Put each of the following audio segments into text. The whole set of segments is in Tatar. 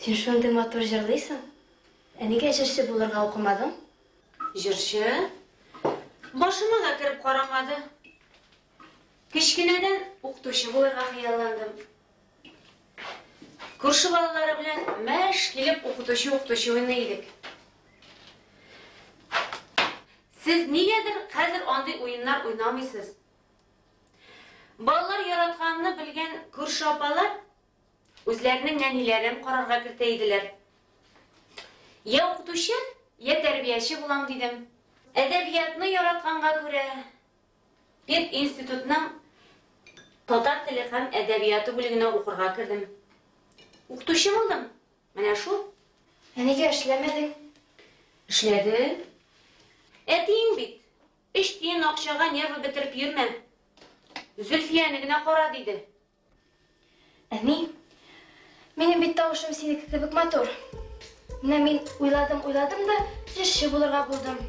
Син шундый матур җырлыйсың. Ә нигә җырчы булырга укымадың? Җырчы? Башыма да кереп карамады. Кечкенәдән укытучы булырга хыялландым. Күрше балалары белән мәш килеп укытучы-укытучы уйный идек. Сез нигәдер хәзер андый уеннар уйнамыйсыз. Балалар яратканны белгән күрше апалар Үзләренең нәниләрен карарга кертә иделәр. Я укытучы, я тәрбияче булам дидем. Әдәбиятны яратканга күрә, пединститутның татар теле һәм әдәбияты бүлегенә укырга кердем. Укытучы булдым. Менә шул. Ә нигә эшләмәдең? Эшләдем. Әтиең бит, өч тиен акчага нервы бетереп йөрмә. Зөлфияне генә кара, диде. Әни, минем бит тавышым синеке кебек матур. Менә мин уйладым, уйладым да, җырчы булырга булдым.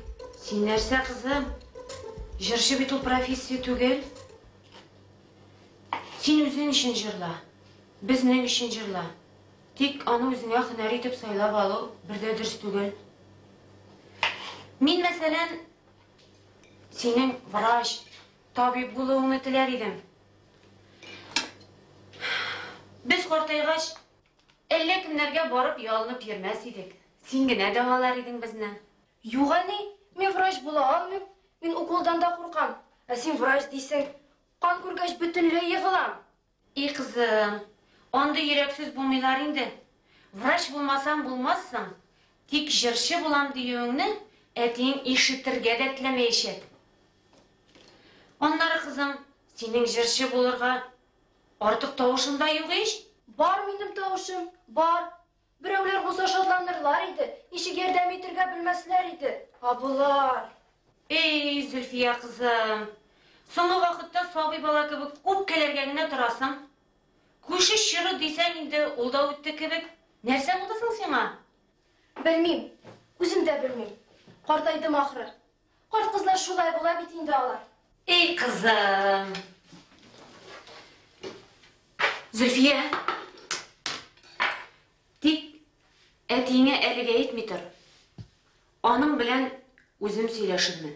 Син нәрсә, кызым? Җырчы бит ул профессия түгел. Син үзең өчен җырла, безнең өчен җырла. Тик аны үзеңә һөнәр итеп сайлап алу бер дә дөрес түгел. Мин, мәсәлән, синең врач, Табиб булуыңны теләр идем. Без картайгач, әллә кемнәргә барып ялынып йөрмәс идек. Син генә дәвалар идең безне. Юк, әни, мин врач була алмыйм. Мин уколдан да куркам. Ә син врач дисең. Кан күргәч, бөтенләй егылам. И кызым, андый йөрәксез булмыйлар инде. Врач булмасаң булмассың, тик җырчы булам диюеңне әтиең ишетергә дә теләмәячәк. Аннары, кызым, синең җырчы булырга артык тавышың да юк ич. Бар минем тавышым, бар. Берәүләр булса шатланырлар иде, ничек ярдәм итергә белмәсләр иде. Ә болар. Эй, Зөлфия кызым, соңгы вакытта сабый бала кебек үпкәләргә генә торасың. Күше чоры дисәң инде, ул да үтте кебек. Нәрсә булды соң сиңа? Белмим, үзем дә белмим. Картайдым ахры. Карт-кызлар шулай була бит инде алар. Эй, кызым. Зөлфия. Тик әтиеңә әлегә әйтми тор. Аның белән үзем сөйләшермен.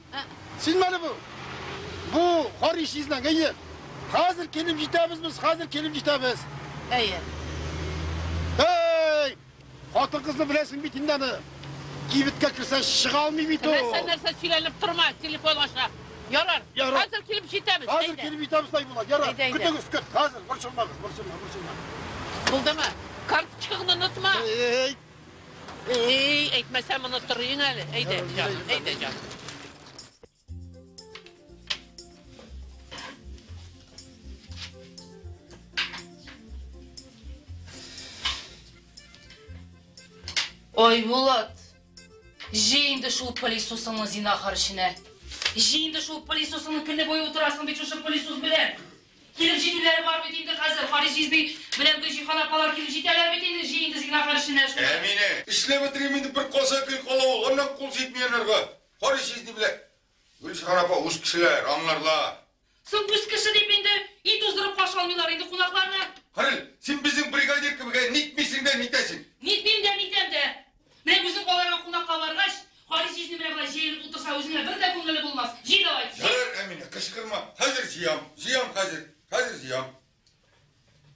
Син менә бу. Бу Хари чизләң, әйе. Хәзер килеп җитәбез без, хәзер килеп җитәбез. Әйе. Әй! Хатын-кызны беләсең бит инде аны. Кибеткә керсә чыга алмый бит ул. Нәрсә нәрсә сөйләнеп торма, телефон аша. Ярар. Хәзер килеп җитәбез. Хәзер килеп җитәбез, тай була. Ярар. Көтегез, көт. Хәзер борчылмагыз, борчылма, борчылма. Булдымы? Карточкаңны онытма. Әй! Эй, әйтмәсәм моны торыйын әле. Әйдә, җаным, әйдә, җаным. Ой, Булат, җи инде шул пылесосыңны зинахар эченә. Җи инде шул пылесосыңны көне буе утырасың бит шушы пылесос белән. Килеп җитүләре бар бит инде хәзер, Харис җизби белән Гөлҗиһан апалар килеп җитәләр бит инде, җый инде Зиннәгар эшенә шуны. Әминә, эшләп бетерим инде, бер каза гел кала ул, аннан кул җитми анарга, Харис җизни белән Гөлҗиһан апа үз кешеләр, аңларлар. Соң үз кеше дип инде өй туздырып каршы алмыйлар инде кунакларны. Харис, син безнең бригадир кебек, ә нитмисең дә нитәсең. Нитмим дә, нитәм дә. Менә үзең аларга кунакка баргач, Хари җизни менә болай җәелеп утырса, үзеңә бер дә күңелле булмас. Җый давай, җый! Ярар, Әминә, кычкырма. Хәзер җыям. Җыям хәзер. Хәзер җыям.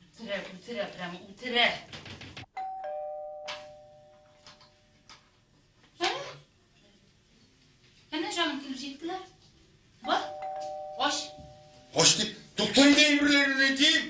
Үтерә, үтерә, прямо үтерә. Әнә. Әнә, җаным, килеп җиттеләр. Бар, ач. Ач дип, туктый инде әйберләрен әйтим.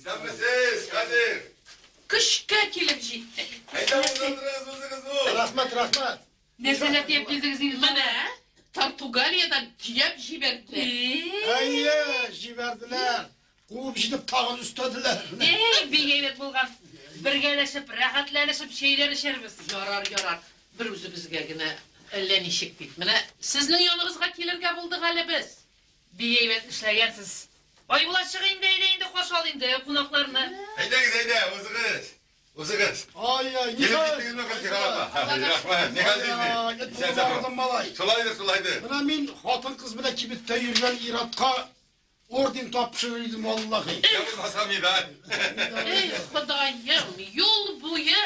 Исәнмесез, Хәзер! Көчкә килеп җиттек. Әйдә, уздырдырыгыз үзегез ул. Рәхмәт, рәхмәт. Нәрсәләр тиеп килдегез инде? Менә Португалиядә төяп җибәрде. Әйе, җибәрделәр. Куып җитеп тагын өстәделәр. Әй, бик әйбәт булган. Бергәләшеп, рәхәтләнешеп чәйләр эчәрбез. Ярар, ярар. Бер үзебезгә генә әллә ничек бит. Менә сезнең яныбызга килергә булдык әле без. Бик әйбәт эшләгәнсез. Айбулат, чык инде, әйдә инде, каршы ал инде кунакларны. Әйдәгез, әйдә, узыгыз. Узыгыз. Ай-яй, ни хәл? Килеп киттегезме, Гөлсира апа? Рәхмәт, ни хәл инде? Исән сау. Шулайдыр, шулайдыр. Менә мин хатын-кыз белән кибеттә йөргән иратка орден тапшырыр идем, валлахи. Я булмаса медаль. Эй, Ходаем, юл буе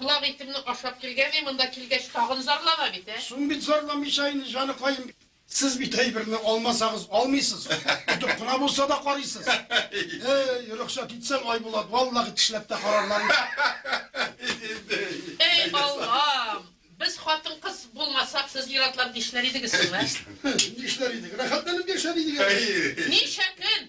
колак итемне ашап килгән, мин монда килгәч тагын зарлана бит, ә? Соң бит зарламыйча инде, җаныкаем. Сез бит әйберне алмасагыз алмыйсыз. Тотып кына булса да карыйсыз. Эй, рөхсәт итсәң, Айбулат, валлахи тешләп тә карарлар иде. Эй, Аллам! Без хатын-кыз булмасак, сез ир-атлар нишләр идегез соң, ә? Нишләр идек? Рәхәтләнеп яшәр идек әле. Ничә көн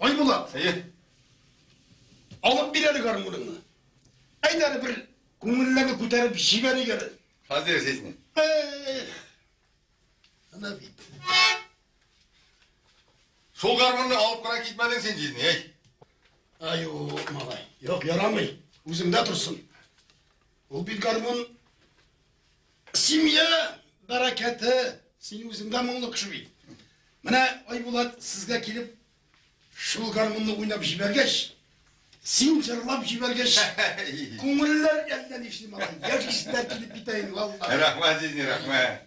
Айбулат. Әйе. Алып бир әле гармуныңны. Әйт әле бер күңелләрне күтәреп җибәрик әле. Хәзер сезне. Ана бит. Шул гармунны алып кына китмәдең син җизни, әй. Аю, малай. Юк, ярамый. Үзеңдә торсын. Ул бит гармун семья бәрәкәте. Син үзең дә моңлы кеше бит. Менә Айбулат сезгә килеп шул гармунны уйнап җибәргәч, син җырлап җибәргәч, күңелләр әллә нишли малай. Яшьләр килеп китә инде, валлаһи. Рәхмәт, Зинни, рәхмәт.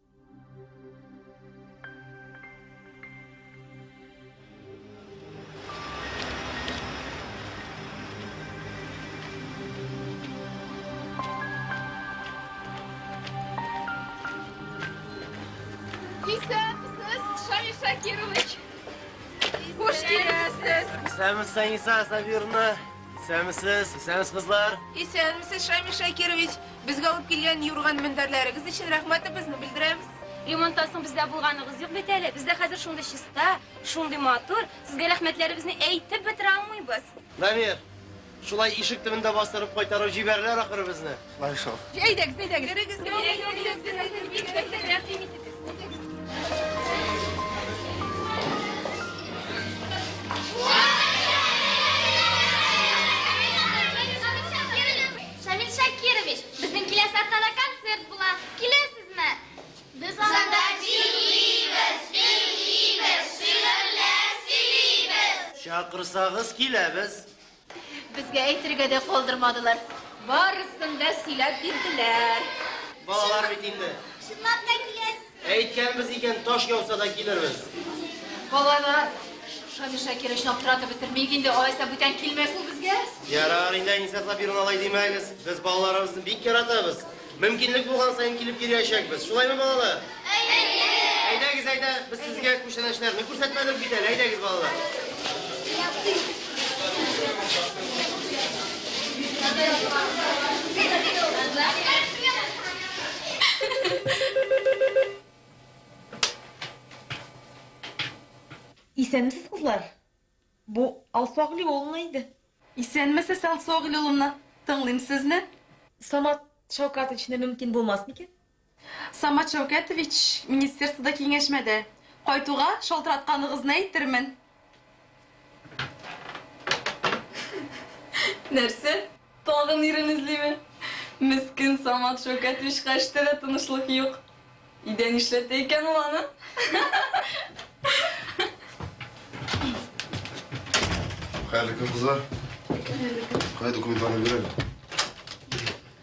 Исәнмесез, Саниса Сабировна. Исәнмесез, исәнмесез, кызлар. Исәнмесез, Шамил Шакирович. Безгә алып килгән юрган-мендәрләрегез өчен рәхмәтебезне белдерәбез. Ремонттан соң бездә булганыгыз юк бит әле. Бездә хәзер шундый чиста, шундый матур. Сезгә рәхмәтләребезне әйтеп бетерә алмыйбыз. Дамир, шулай ишек төбендә бастырып кайтарып җибәрерләр ахры безне. Шулай шул. Әйдәгез, әйдәгез. Керегез, керегез. Шамил Шакирович, безнең киләсе атнада концерт була. Киләсезме? Без анда бийлибез, бийлибез, шигырьләр сөйлибез. Чакырсагыз, киләбез. Безгә әйтергә дә калдырмадылар. Барысын да сөйләп бирделәр. Балалар бит инде. Чынлап та киләсез. Әйткәнбез икән, таш яуса да килербез. Балалар, Шамил Шакировичны аптыратып бетермик инде, алайса бүтән килмәс ул безгә. Ярар, инде Әниса Сабировна алай димәгез. Без балаларыбызны бик яратабыз. Мөмкинлек булган саен килеп йөриячәкбез. Шулаймы, балалар? Әйе. Әйдәгез, әйдә, без сезгә күчтәнәчләрне күрсәтмәдек бит әле. Әйдәгез, балалар. Исәнмесез, кызлар. Бу Алсуагли улына иде. Исәнмесез, Алсуагли улына. Тыңлыйм сезне. Самат Шаукатовичны мөмкин булмас микән? Самат Шәүкәтович, министерствода киңәшмәдә. Кайтуга, шалтыратканыгызны әйтермен. Нәрсә? Тагын ирен эзлиме? Мескен Самат Шәүкәтовичка эштә дә тынычлык юк. Өйдә нишләтә икән ул аны? Хәерле көн, кызлар. Кая документларны бир әле.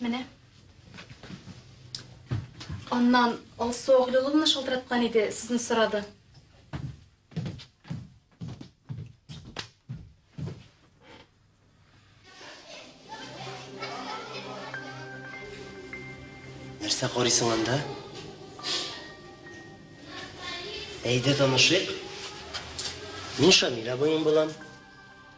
Менә. Аннан Алсу Агылуловна шалтыраткан иде, сезне сорады. Нәрсә карыйсың анда? Әйдә танышыйк. Мин Шамил абыең булам.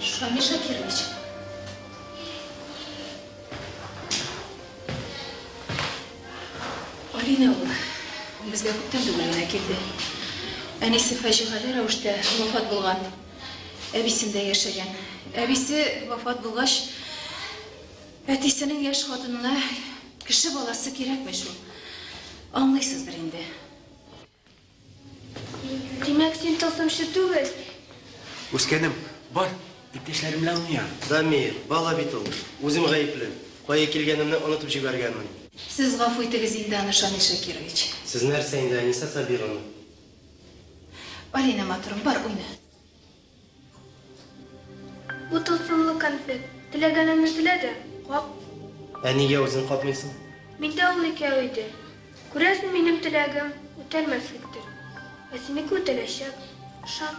Шамил Шакирович. Алина ул. Безгә күптән түгел генә килде. Әнисе фаҗигале рәвештә вафат булган. Әбисендә яшәгән. Әбисе вафат булгач, әтисенең яшь хатынына кеше баласы кирәкмеш ул. Аңлыйсыздыр инде. Димәк, син тылсымчы түгел? Үскәнем, бар, иптәшләрем белән уйна. Дамир, бала бит ул. Үзем гаепле. Кая килгәнемне онытып җибәргәнмен. Сез гафу итегез инде аны, Шамил Шакирович. Сез нәрсә инде, Әнисә Сабировна? Алинә, матурым, бар, уйна. Бу тылсымлы конфет. Теләгәнеңне телә дә, кап. Ә нигә үзең капмыйсың? Миндә ул икәү иде. Күрәсең, минем теләгем үтәлмәслектер. Ә синеке үтәләчәк, ышан.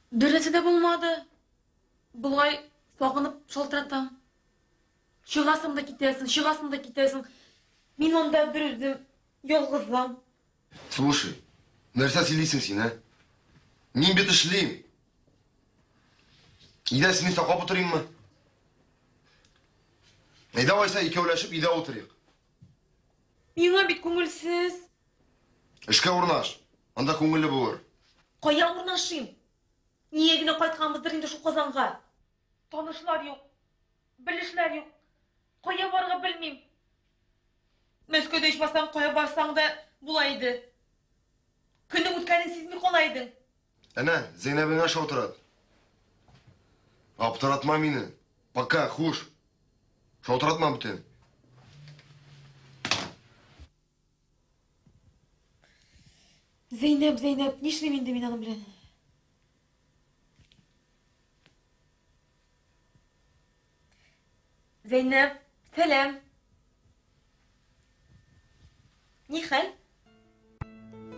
Беренче дә булмады. Болай сагынып шалтыратам. Чыгасың да китәсең, чыгасың да китәсең. Мин анда бер үзем ялгызым. Слушай, нәрсә сөйлисең син, ә? Мин бит эшлим. Идә сине саклап утырыйммы? Әйдә алайса икәүләшеп өйдә утырыйк. Миңа бит күңелсез. Эшкә урнаш. Анда күңелле булыр. Кая урнашыйм? Нигә генә кайтканбыздыр инде шул Казанга? Танышлар юк. Белешләр юк. Кая барырга белмим. Мәскәүдә ичмасам кая барсаң да була иде. Көннең үткәнен сизми кала идең. Әнә, Зәйнәбеңә шалтырат. Аптыратма мине. Пока, хуш. Шалтыратма бүтән. Зәйнәп, Зәйнәп, нишлим инде мин аның белән? Зәйнәп, сәлам. Ни хәл?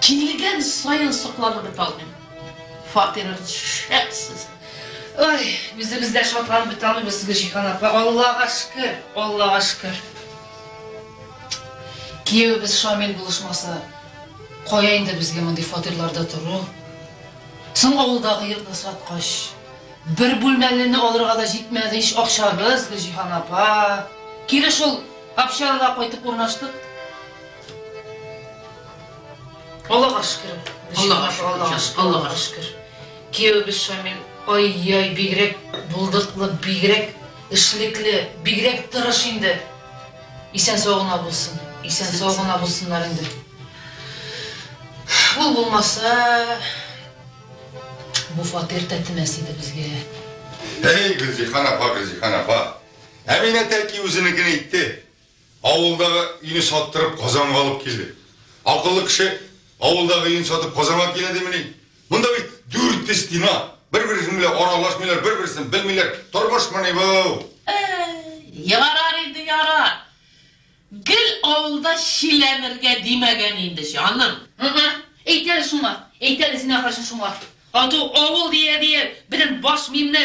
Килгән саен сокланып беталмыйм. Фатирыгыз шәп сезнең. Ой, үзебез дә шатланып беталмыйбыз, Гөлҗиһан апа. Аллага шөкер, Аллага шөкер. Киявебез Шамил булышмаса, кая инде безгә мондый фатирларда тору? Соң авылдагы йортны саткач, бер бүлмәлене алырга да җитмәде ич акчабыз, Гөлҗиһан апа. Кире шул общагага кайтып урнаштык. Аллага шөкер. Аллага шөкер. Аллага шөкер. Киявебез Шамил, ай-яй, бигрәк булдыклы, бигрәк эшлекле, бигрәк тырыш инде. Исән сау гына булсын. Исән сау гына булсыннар инде. Ул булмаса, бу фатир тәтемәс иде безгә. Әй, Гөлзихан апа, Гөлзихан апа. Әминә тәки үзенекен әйтте. Авылдагы өйне саттырып, Казанга алып килде. Акыллы кеше авылдагы өен сатып Казанга килә димени? Монда бит дүрт стена, бер-берсен белән аралашмыйлар, бер-берсен белмиләр. Тормышмыни бу? Әй, ярар инде, ярар. Гел авылда чиләнергә димәгән инде, җаным. Ы-ы, әйт әле шуңа, әйт әле, син ахрысы, шуңа. Ату авыл дия-дия, безнең баш миемне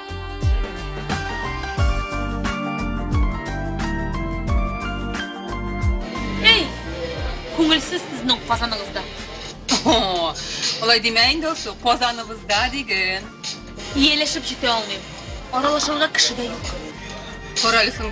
Эй! Күңелсез сезнең казаныгызда. Алай димә инде Алсу, казаныбызда диген. Ияләшеп җитә алмыйм. Аралашырга кеше дә юк. Каралисың,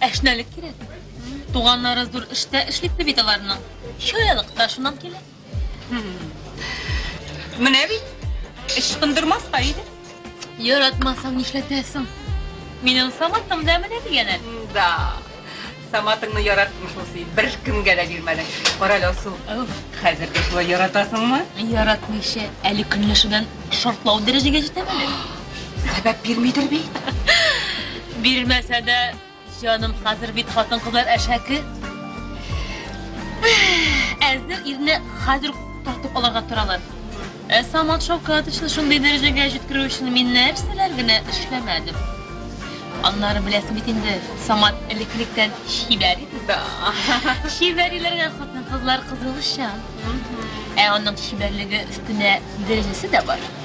Әшнәлек кирәк. Туганнары зур эштә эшлисе бит аларның. Чаялык та шуннан килә. Менә бит. Эш кындырмаска иде. Яратмасаң нишләтәсең? Минем саматым да менә дигәнә. Да. Саматыңны яраттым шул син. Бер кемгә дә бирмәдең. Кара әле, Алсу. Хәзер дә шулай яратасыңмы? Яратмыйча, әле көнләшүдән шартлау дәрәҗәгә җитәм әле. Сәбәп бирмидер бит. Бирмәсә дә, җаным, хәзер бит хатын-кызлар әшәке. Әзер ирне хәзер тартып алырга торалар. Ә Самат Шавкатовичны шундый дәрәҗәгә җиткерү өчен мин нәрсәләр генә эшләмәдем. Аннары беләсең бит инде, Самат элеклектән чибәр иде. Да. Чибәриләргә хатын-кызлар кызылышчан. Ә аның чибәрлеге өстенә дәрәҗәсе дә бар.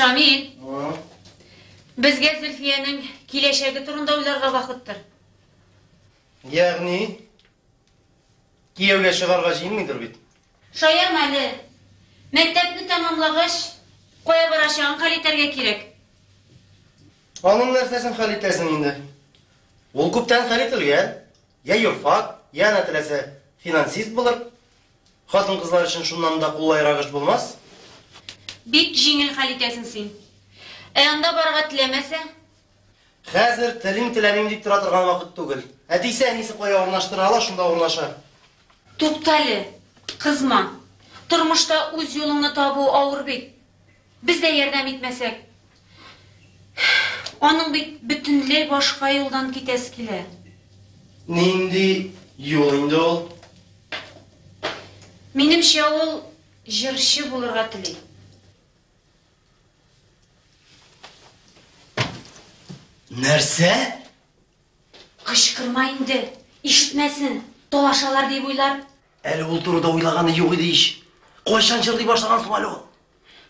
Шамил. Безгә Зөлфиянең киләчәге турында уйларга вакыттыр. Ягъни Кияүгә чыгарга җыенмыйдыр бит? Шаярма әле. Мәктәпне тәмамлагач, кая барачагын хәл итәргә кирәк. Аның нәрсәсен хәл итәсең инде? Ул күптән хәл ителгән. Йә юрфак, йә ана теләсә, финансист булыр. Хатын-кызлар өчен шуннан да куллаерак эш булмас. Бик җиңел хәл итәсең син. Ә анда барырга теләмәсә? Хәзер телим теләмим дип тора торган вакыт түгел. Әтисе әнисе кая урнаштыра ала, шунда урнаша. Туктале, кызма. Тормышта үз юлыңны табу авыр бит. Без дә ярдәм итмәсәк. Аның бит бөтенләй башка юлдан китәсе килә. Нинди юл инде ул? Минемчә ул җырчы булырга тели. Нәрсә? Кычкырма инде, ишетмәсен, талашалар дип уйлар. Әле ул турыда уйлаганы юк иде ич. Кайчан җырлый башлаган соң әле ул?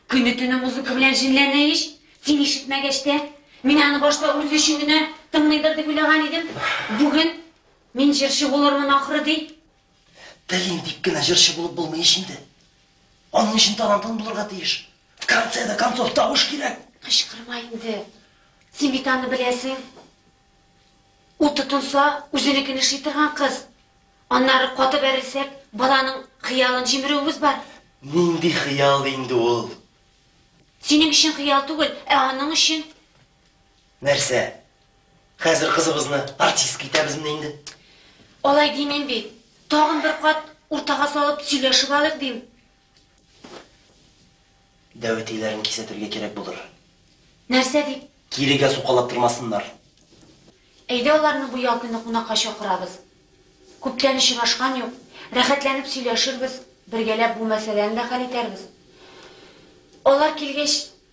Көне төне музыка белән җенләнә ич. Син ишетмәгәч тә, мин аны башта үз өчен генә тыңлыйдыр дип уйлаган идем. Бүген мин җырчы булырмын ахры ди. Телим дип кенә җырчы булып булмый ич инде. Аның өчен талантың булырга тиеш. В конце до концов тавыш кирәк. Кычкырма инде. Симитаны беләсең. Ул тотынса, үзенекене шый торган кыз. Аннары каты бәрелсәк, баланың хыялын җимерүебез бар. Нинди хыял инде ул? Синең өчен хыял түгел, ә аның өчен. Нәрсә? Хәзер кызыбызны артистка итәбезме инде? Алай димим бит. Тагын бер кат уртага салып сөйләшеп алыйк дим. Дәвәтиләрен кисәтергә кирәк булыр. Нәрсә дип? Кирегә сукалап тормасыннар. Әйдә аларны бу ял көне кунакка чакырабыз. Күптән очрашкан юк. Рәхәтләнеп сөйләшербез, бергәләп бу мәсьәләне дә хәл итәрбез. Алар килгәч,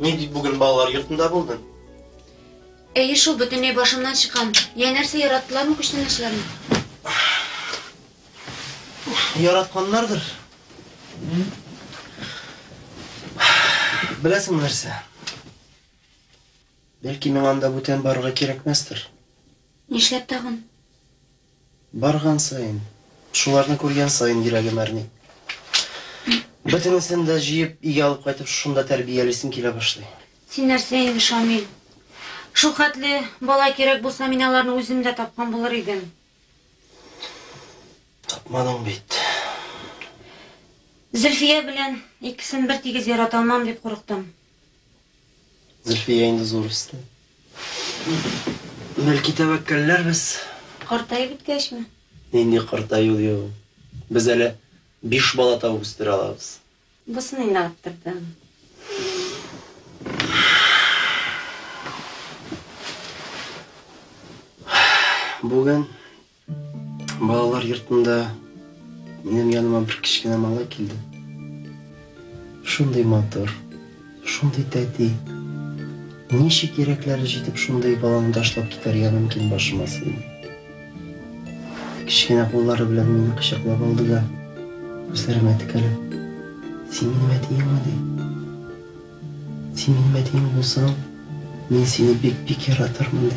Ни дип бүген балалар йортында булдың? Әйе шул, бөтенләй башымнан чыккан. Я нәрсә, яраттылармы күчтәнәчләрне? Яратканнардыр. Беләсең нәрсә? Бәлки миңа анда бүтән барырга кирәкмәстер. Нишләп тагын? Барган саен, шуларны күргән саен йөрәгем әрни. Бөтенесен дә җыеп, өйгә алып кайтып, шушында тәрбиялисем килә башлый. Син нәрсә инде, Шамил. Шулхәтле бала кирәк булса, мин аларны үзем дә тапкан булыр идем. Тапмадың бит. Зөлфия белән икесен бертигез ярата алмам дип курыктым. Зөлфия инде зур үсте. Бәлки тәвәккәлләрбез. Картаеп беткәчме? Нинди картаю ди ул? Без әле биш бала табып үстерә алабыз. Бусын инде арттырдың. Бүген Балалар йортында минем яныма бер кечкенә малай килде. Шундый матур, шундый тәти. Ничек йөрәкләре җитеп шундый баланы ташлап китәргә мөмкин башыма сыймый. Кечкенә куллары белән мине кочаклап алды да, күзләремә текәлеп, Син минем әтиеңме? ди. Син минем әтиең булсаң, мин сине бик-бик яратырмын, ди.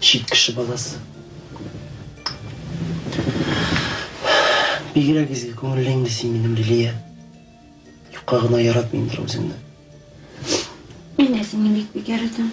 Чит кеше баласы. Бигрәк изге күңелле инде син минем Лилия. Юкка гына яратмыймдыр үзеңне. Мин дә сине бик бик яратам.